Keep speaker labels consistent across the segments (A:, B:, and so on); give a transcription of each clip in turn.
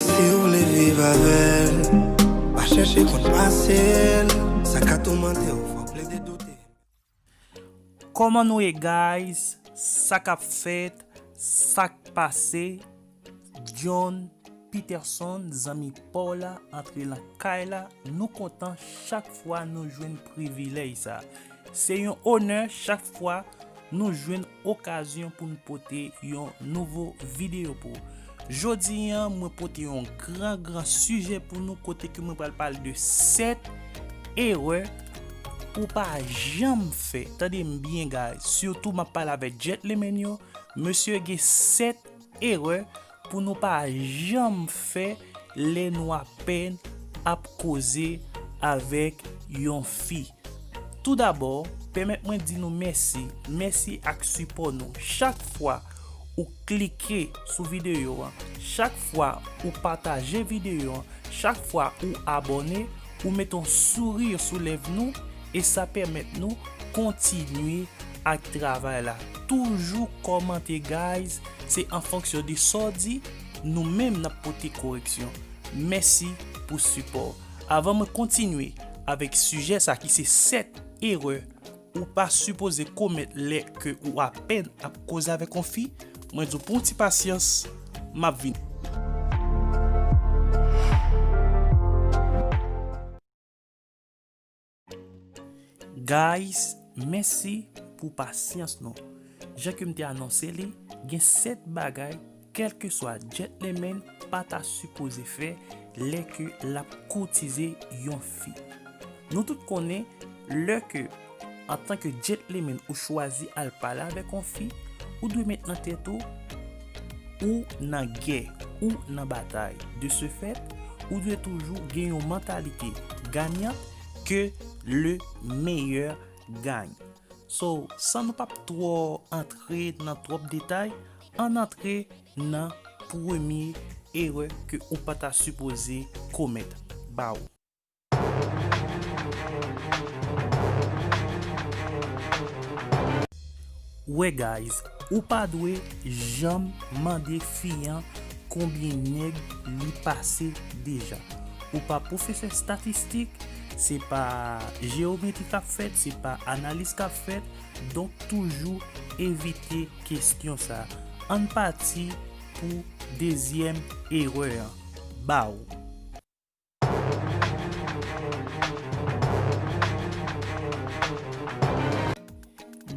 A: Siw vle viv avèl pa chèche konn pasel sa ka toumantew fòk plede doute.
B: Koman nou ye guys sa kap fèt sak pase John Peterson zanmi paw la antre lan kay la nou kontan chak fwa nou jwenn privilèj sa se yon onè chak fwa nou jwenn okazyon pou nou pote yon nouvo video pou ou. Jodi an mwen pote yon gran gran sijè pou nou kote ke mwen pral pale de 7 erè pou pa janm fè. Tande m byen guys, sitou map pale avèk gentlemen yo, mesye gen 7 erè Pou nou pa janm fè lè nou apèn ap koze avèk yon fi. Toudabò, pèmèt mwen di nou mèsi, mèsi ak sipò nou. Chak fwa ou klike sou videyo an, chak fwa ou pataje videyo an, chak fwa ou abòne, Ou met on sourire sou lèv nou e sa pèmèt nou kontinye ak travay la. Toujou kòmante guys, se an fonksyon de sa w di, nou menm nap pote koreksyon. Mèsi pou sipò w. Avan mwen kontinye avèk sijè sa ki se 7 erè Ou pa sipoze komèt lè ke ou apèn ap koze avèk on fi, mwen di w pran w ti pasyans, m ap vini. Guys, mèsi pou pasyans nou. Jan ke m te anonse li, gen 7 bagay Kèlkeswa jet le men pa ta sipoze fè lè ke lap koutize yon fi. Nou tout konnen lè ke antan ke jet le men ou chwazi al pale avèk yon fi, ou dwe met nan tèt ou, ou nan gè, ou nan batay. De se fèt, ou dwe toujou gen yon mantalite ganyan ke le meyè gagne. So, san nou pap twò antre nan twòp detay, Ann antre nan premye erè ke ou pa ta sipoze komèt. Baww. Wè guys, ou pa dwe janm mande fi an konbyen nèg li pase deja. Ou pa pwofesè statistik, se pa jeyometri kap fèt, se pa analiz kap fèt, donk toujou evite. kestyon sa ann pati pou dezyèm erè an baw.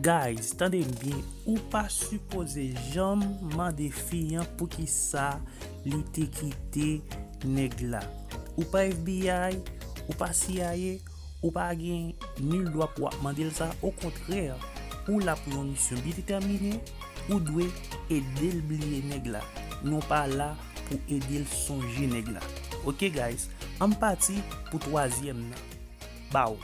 B: Guys tandem byen ou pa sipoze janm mande fi an poukisa li te kite nèg la ou pa FBI ou pa CIA. Ou pa gen nil dwa pou ap mande l sa, okontrè ou la pou yon misyon byen detèmine, ou dwe ede l bliye nèg la, non pa la pou ede l sonje nèg la. Ok guys, anm pati pou twazyèm nan. Baww.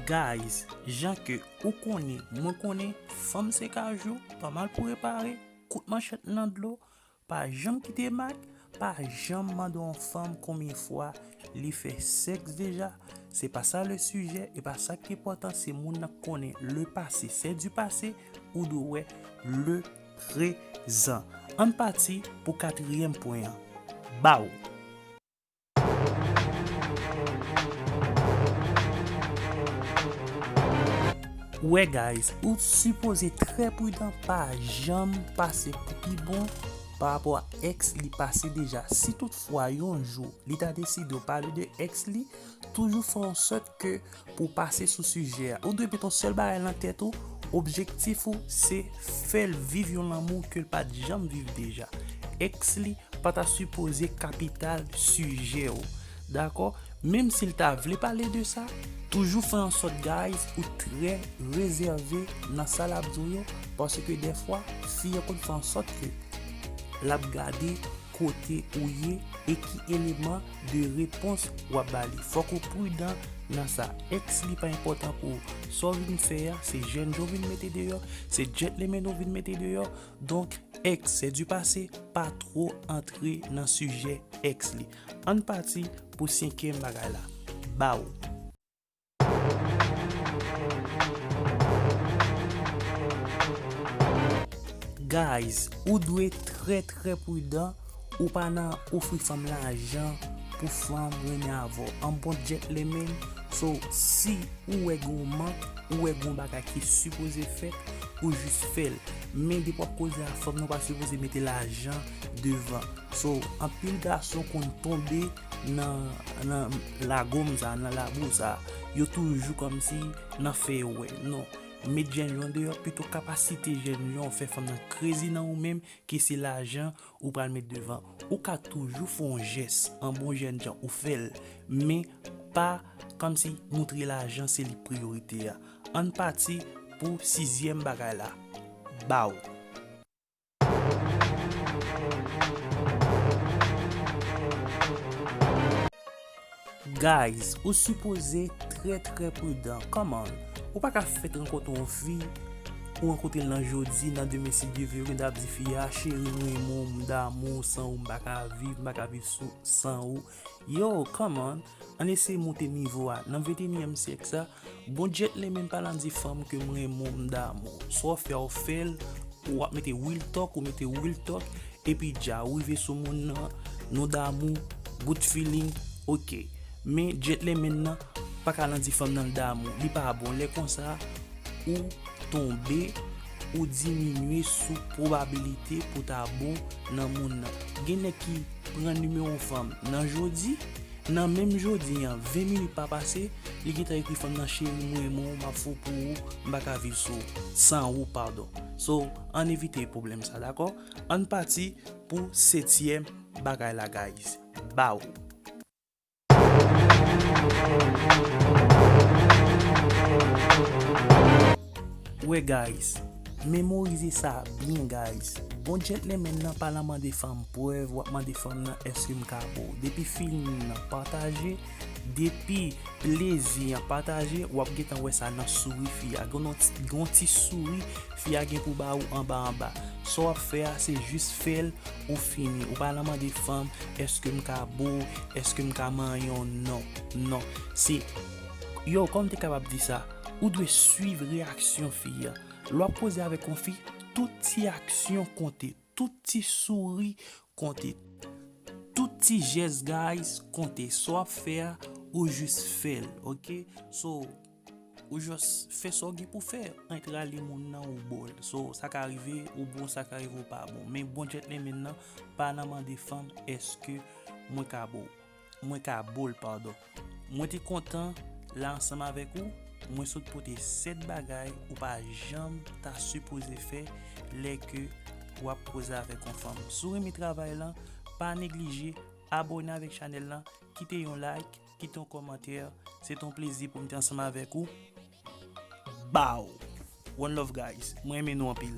B: Guys, jan ke ou konnen mwen konnen, fanm 5 a jou pa mal pou repare. Kout manchèt nan dlo, pa janm kite mak, pa janm mande yon fanm konbyen fwa li fè sèks deja, se pa sa le sijè, e pa sa ki enpòtan se moun nan konnen le pase sè di pase, ou dwe wè le prezan. Ann pati pou katriyèm pwen an, baww! Wè guys, ou sipoze trè pridan pa janm pase pou pi bon pa rapò a ex li pase deja. Si tout fwa yon jou li ta deside ou pale de ex li, toujou fè yon sòt ke Pou w pase sou sijè a, ou dwe met yon sèl bagay nan tèt ou, objektif ou se fè l viv yon lanmou ke l pa t janm viv deja. Èks li pa ta sipoze kapital sijè ou. Dakò? Menm si l ta vle pale de sa, toujou fè an sòt guys ou trè rezève nan sa l ap di w yo paske dèfwa fi an konn fè an sòt ke l ap gade kote ou ye e ki eleman de repons wap ba li fòk ou prudan nan sa ex li pa enpòtan pou ou sa w vin fè a se jènjan w vin mete deyò se djètlemen ou vin mete deyò donk ex se du pase pa two antre nan sijè ex li ann pati pou senkyèm bagay la ba w. Guys ou dwe trè trè prudan ou pa nan ofri fanm lajan pou fanm renmen avèw an bon djètlemen so si ou wè gen yon mank ou wè gen yon bagay ki sipoze fèt ou jis fèl men depi wap koze ak fanm nou pa sipoze mete lajan devan so anpil gason konn tonbe Nan lagom sa nan labou sa yo toujou komsi nan fè yo wè non met jèn yo andeyò pito kapasite jèn yo fè fanm nan krezi nan ou menm ke se lajan ou pral met devan ou ka toujou fon jès an bon jèn jan ou fèl men pa komsi moutre lajan se li priyorite a ann pati pou sizyèm bagay la baww. Guys ou sipoze trè trè pridan kòman ou paka fèt rankontre yon fi ou rankontrel nan jodi nan demen si Dye vle ou gendwa ap di fi a cheri m renmen w m damou w san ou m paka viv m paka viv san ou. Yow come on ann eseye moute nivo a nan 21 èm syèk sa bon djetle menm pa lan di fanm kem renmen w m damou w sa w fè w fèl ou ap mete real talk ou mete real talk epi dja ou rive sou moun nan nou damou bout feeling ok men djetle menn nan paka lan di fanm nan l damou li pa bon lè konsa ou tonbe. ou diminye sou pwobabilite pou ta bon nan moun nan. Gen nèg ki pran nimewo fanm nan jodi, nan menm jodi an, 20 minit pa pase, li gentan ekri fanm nan cheri m renmen w, m ap fou pou ou, m pa ka viv sou, san ou padon. So, ann evite pwoblèm sa dakò? Ann pati pou setyèm bagay la guys. Baww. Wè guys, memorize sa byen guys, bon gentleman nan pa lan mande fanm prèv wap mande fanm nan eske m ka ba w depi feeling nan pataje, depi plezi an pataje wap gentan wè sa nan souri fi a, gen yon ti souri fi a gen pou ba ou anba anba, sa wap fè a se jis fè l. ou fini, ou pa la mande fanm eske m ka bo, eske m ka manyen w non, non se yow kòman m te kapab di sa ou dwe swiv reyaksyon fi a lè w ap koze avèk yon fi tout ti aksyon konte tout ti souri konte tout ti jès guys konte sa w ap fè a ou jis fè l ok so. Ou just fè sa w gen pou fè, ank rale moun nan ou bo l. So sa ka rive ou bon sa ka rive ou pa bon. Men bon gentleman nan pa nan mande fanm eske mwen ka bo w. Mwen ka bo l pardon. Mwen te kontan la ansanm avèk ou, mwen sot pote 7 bagay ou pa janm ta sipoze fè lè ke wap koze avèk yon fanm. Si w renmen travay lan, pa neglije abone avèk chanèl lan, kite yon like. Kite yon kòmantè, se te yon plezi pou m te ansanm avèk ou. Baww! One love guys, mwen renmen nou anpil.